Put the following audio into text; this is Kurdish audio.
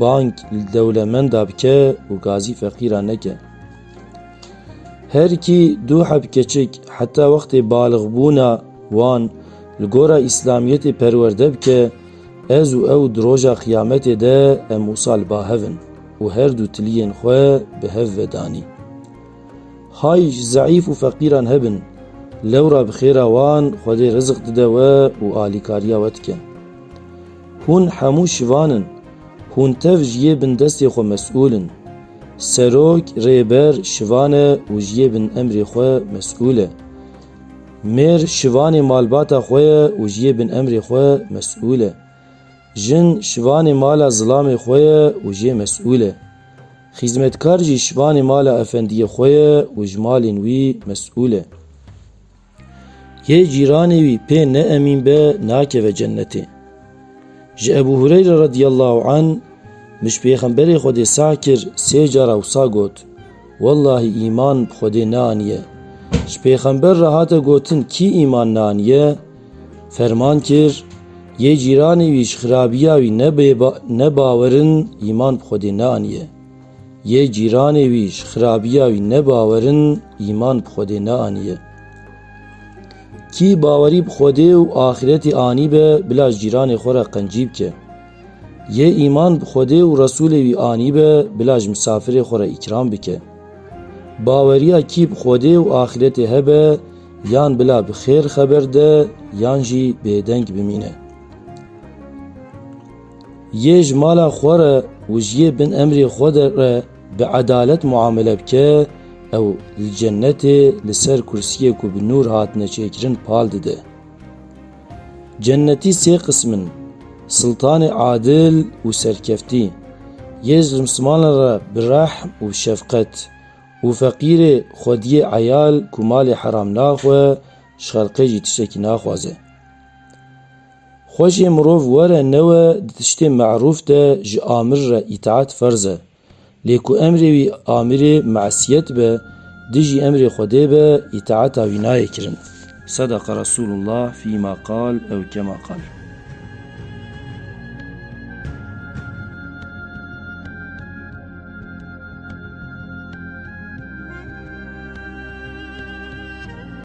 Bang li dewlemenda bike û gazî feqîran neke. Her kî du heb keçik heta wextê balixbûna wan li gora îslamiyetê perwerde bike, ez û ew di roja qiyametê de em wisa li ba hev in û her du tiliyên xwe bi hev ve danî. Hay ji zeîf û feqîran hebin, lewra bi xêra wan Xwedê rizik dide we û alîkariya we dike. Hûn hemû şivan in. Hûn tev ji yê bin destê xwe mesûl in. Serok, rêber, şivan e û ji yê bin emrê xwe mesûl e. Mêr şivanê malbata xwe ye û ji yê bin emrê xwe mesûl e. Jin şivanê mala zilamê xwe ye û jê mesûl e. Xîzmetkar jî şivanê mala efendiyê xwe ye û ji malên wî mesûl e. Yê cîranê wî pê ne emîn be nakeve cennetê. Ji Ebû Hureyre radîyallahu an mij pêxemberê Xwedê sah kir sê cara wisa got, Wellahî îman bi Xwedê neaniye. Ji pêxember re hate gotin kî îman neaniye? Ferman kir, Yê cîranê wî ji xirabîya wî ne bawer in îman bi Xwedê neaniye. Yê cîranê wî ji xirabiya wî nebawerin îman bi Xwedê neaniye. Kî bawerî bi Xwedê û axiretê anîbe bila ji cîranê xwe re qencî bike. Yê îman bi Xwedê û Resûlê wî anîbe bila ji misafirê xwe re îkram bike. Baweriya kî bi Xwedê û axiretê hebe yan bila bi xêr xeber de yan jî bêdeng bimîne. Yê ji mala xwe re û ji yê bin emrê xwe de re bi edalet muamele bike, ew li cenetê li ser kursiyê ku bi nûr hatine çêkirin pal dide. Cenetî sê qism in, siltanê adil û serkeftî, yê ji rimsimanan re bi rehm û şefqet û feqîrê xwediyê eyal ku malê heram naxwe, ji xelqê jî tiştekî naxwaze. Xwe jê mirov were newe di tiştê me'rûf de ji amir re îtaet ferz e. Lê ku emrê wî amirê me'siyet be, dijî emrê Xwedê be îtaeta wî nayê kirin. Sedeqa Resûlullah fîma qal ew kema qal.